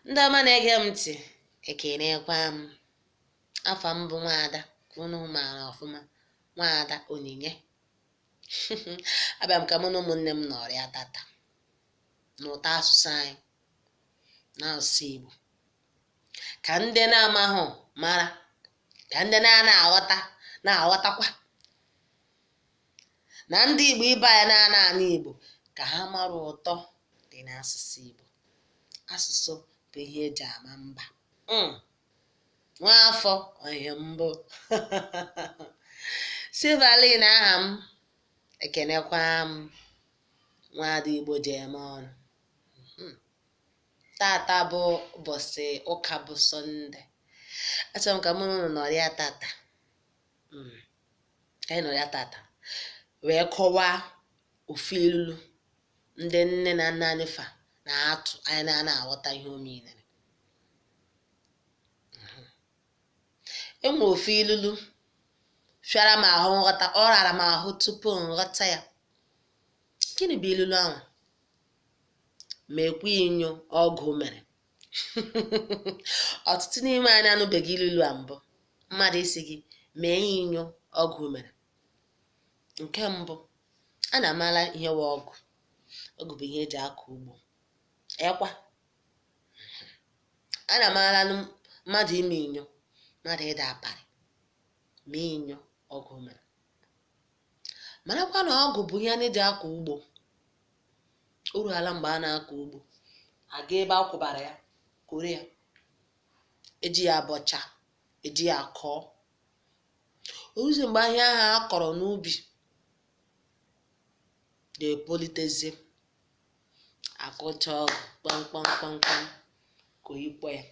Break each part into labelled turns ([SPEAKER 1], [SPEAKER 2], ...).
[SPEAKER 1] ndị ọma na-ege m ntị ekenekwa m afa m bụ nwaada ka unu maara ọfụma nwaada onyinye abịa m ka mụ na ụmụnne m nọrịa tata n'ụtọ asụsụ anyị na asụsụ Igbo ka ndị na-amahụ mara ka ndị na-ana aghọta na-aghọtakwa na ndị Igbo ibe anyị na-ana anụ Igbo ka ha mara ụtọ dị n'asụsụ Igbo asụsụ bụ ihe eji ama mba hmm. nwaafọ onye mbụ Silverline aha m ekenekwa m nwaada Igbo ji eme ọnụ hmm. tata bụ ụbọchị ụka bụ sọnde achọrọ m ka mụ na unu nọrịa tata mm, anyị nọrịa tata wee kọwaa ofu ilulu ndị nne na nna anyị fa na-atụ anyị na ana aghọta ihe o meanere enwe ofu ilulu fịara m ahụ nghọta ọ rara m ahụ tupu m ghọta ya gịnị bụ ilulu ahụ mekwa inyo ọgụ mere ọtụtụ n'ime anyị anụbeghị ilulu a mbụ mmadụ ịsị gị mee ya inyo ọgụ mere nke mbụ anyị amara ihe wụ ọgụ ọgụ bụ ihe eji akọ ugbo ekwa anyị maranụ mmadụ ime inyo mmadụ ịda aparị mee inyo ọgụ mere marakwa na ọgụ bụ ihe a na-eji akọ ugbo o ruhala mgbe a na-akọ ugbo aga ebe a kwụbara ya koro ya eji ya abọcha eji ya akọọ oruzi mgbe ihe ahụ a kọrọ n'ubi ga-epulitezie akụcha ọgụ kpamkpam kpamkpam ka oyikpọ ya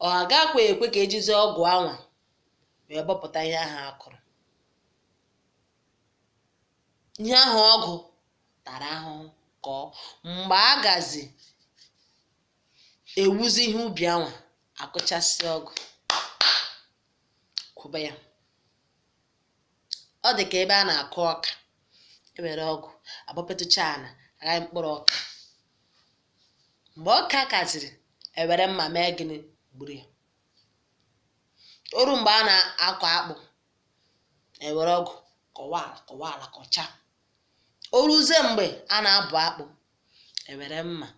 [SPEAKER 1] ọ agakwa ekwe ka ejizi ọgụ anwa wee bọpụta ihe ahụ a kọrọ ihe ahụ ọgụ tara ahụhụ kọọ mgbe a gazi ewuzi ihe ubi anwa akụchasị ọgụ kwụba ya ọ dị ka ebe a na-akụ ọka ewere ọgụ abọpetụcha ala aghayi mkpụrụ ọka mgbe ọka kaziri ewere mma mee gịnị gburu ya oru mgbe a na-akọ akpụ ewere ọgụ kọwa ala kọwa ala kọcha o ruzie mgbe a na-abụ akpụ ewere mma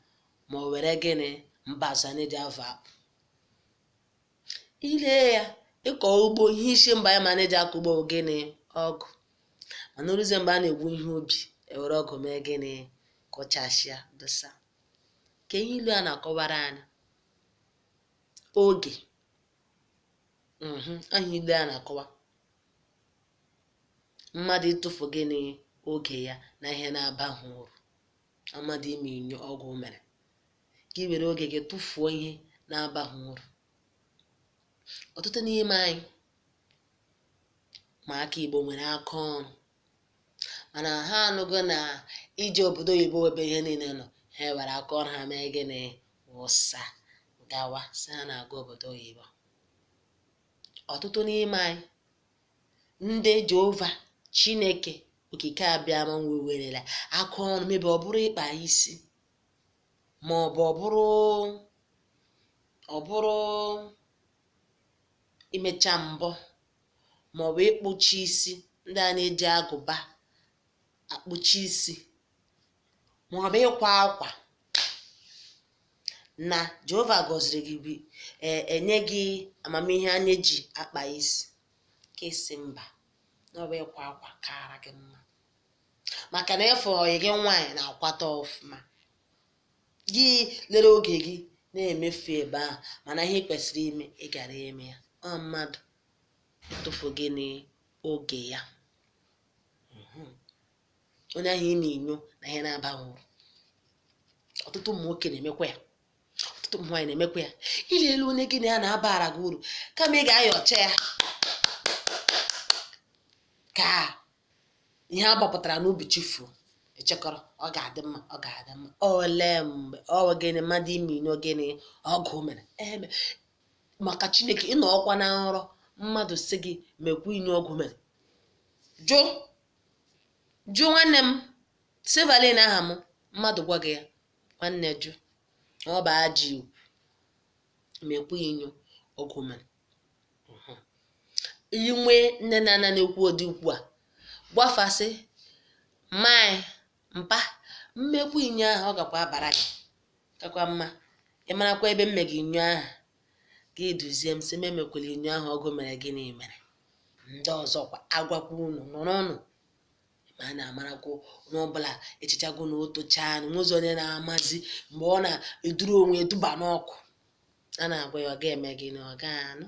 [SPEAKER 1] ma o were gịnị mbazụ na-eji avụ akpụ ile ya ịkọ ugbo ihe isi mba ya ma na-eji akọ ugbo bụ gịnị ọgụ mana oruzie mgbe a na-egwu ihe ubi ewere ọgụ mee gịnị kụchasịa dosa ka ihe ilu a na-akọwara anyị oge mhm, aha ilu a na-akọwa mmadụ ịtụfu gịnị oge ya na ihe na-abaghị uru mmadụ ime inyo ọgụ mere ka ị were oge gị tụfuo ihe na-abaghị uru ọtụtụ n'ime anyị ụmụaka igbo nwere aka ọrụ mana ha anụgo na ije obodo oyibo wụ ebe ihe niile nọ ha were aka ọrụ ha mee gịnị wụsa gawa sị ha na-aga obodo oyibo ọtụtụ n'ime anyị ndị jehova chineke okike abịama ewerela aka ọrụ mebe ọ bụrụ ịkpa isi ma ọ bụ ọ bụrụ ọ bụrụ imecha mbọ maọbụ ịkpụchi isi ndị a na-eji agụba akpụchi isi maọbụ ịkwa akwa na Jehova gọziri gị wee nye gị amamihe a na-eji akpa isi ka ị sị mba na ọ bụ ịkwa akwa kaara gị mma maka na efe ọyị gị nwaanyị na-akwata ọfụma gị lere oge gị na-emefu ebe ahụ mana ihe i kwesịrị ime ị gara eme ya ọ mmadụ ịtụfu gịnị oge ya mhm. onye ahụ ime inyo na ihe na-abaghị uru ọtụtụ ụmụ nwoke na-emekwa ya ọtụtụ ụmụ nwaanyị na-emekwa ya ile elu onye gị na ya na-abara gị uru kama ị ga-ayọcha ya ka ihe a gbapụtara n'ubi chifuo ị chekọrọ ọ ga-adị mma ọ ga-adị mma ole mgbe ọ gịnị mmadụ ime inyo gịnị ọgụ mere ee maka chineke ị nọkwa na nrọ mmadụ sị gị mekwa inyo ọgụ mere jụ jụ nwanne m silverline aha m mmadụ gwa gị ya nwanne jụ ọ bụ ajọ okwu mekwa inyo ọgụ mere i nwee nne na nna na-ekwu ụdị okwu a gwa fa sị mai mpa m mekwu inyo ahụ ọ gakwa abara gị kakwa mma ị marakwa ebe mme gị inyo ahụ gị duzie m sị m emekwela inyo ahụ ọgụ mere gịnị mere ndị ọzọkwa agwakwa unu nụrụnụ ma a na-amarakwa onye ọbụla echichago na o tochaa na o nwezi onye na-amazi mgbe ọ na-eduru onwe e duba n'ọkụ a na-agwa ya ọ ga-eme gịnị ọ ga-anụ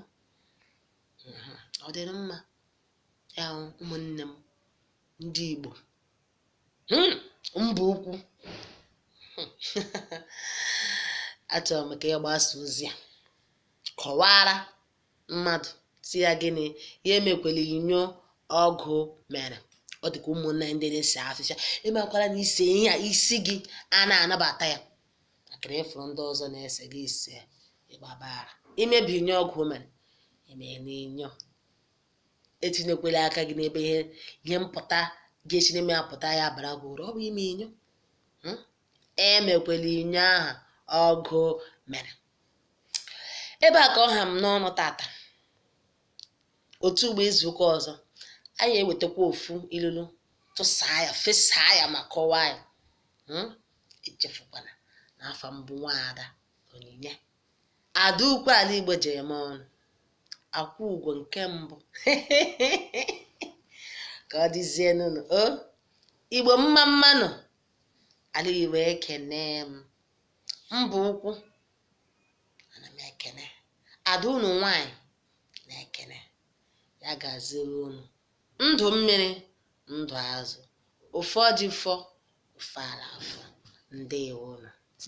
[SPEAKER 1] Mhm. ọ dịrị mma ya hụ ụmụnne m ndị Igbo Hmm, mba ukwu Hmm. achọrọ m ka ya gbasaa ozi a kọwara mmadụ sị ya gịnị ya emekwela inyo ọgụ mere ọ dịka ụmụnna ndị na-ese afịfịa ị makwara na i see ihe a isi gị a na-anabata ya ntakịrị ị fụrụ ndị ọzọ na-ese gị esee ị gbabara i mebe inyo ọgụ mere emee n'inyo etinyekwela aka gị n'ebe ihe ihe mpụta ga-esi n'ime ya pụta ya bara gị uru ọ bụ ime inyo Hmm? emekwela inyo aha ọgụ mere ebe a ka ọ ha m n'ọnụ tata otu ugbu a izu ụka ọzọ anyị ewetakwa ofu ilulu tụsaa ya fesaa ya ma kọwaa ya Hmm? echefukwana na afa m bụ nwaada onyinye ada ukwu ala igbo ji eme ọnụ akwụ ugo nke mbụ ka ọ dịzie nụnụ o igbo mma mma nụ ala igbo ekene m mba ukwu ana m ekene ada unu nwanyị na-ekene ya gaziere unu ndụ mmiri ndụ azụ ofe ọjị fọ ofe ala afọ ndewo unu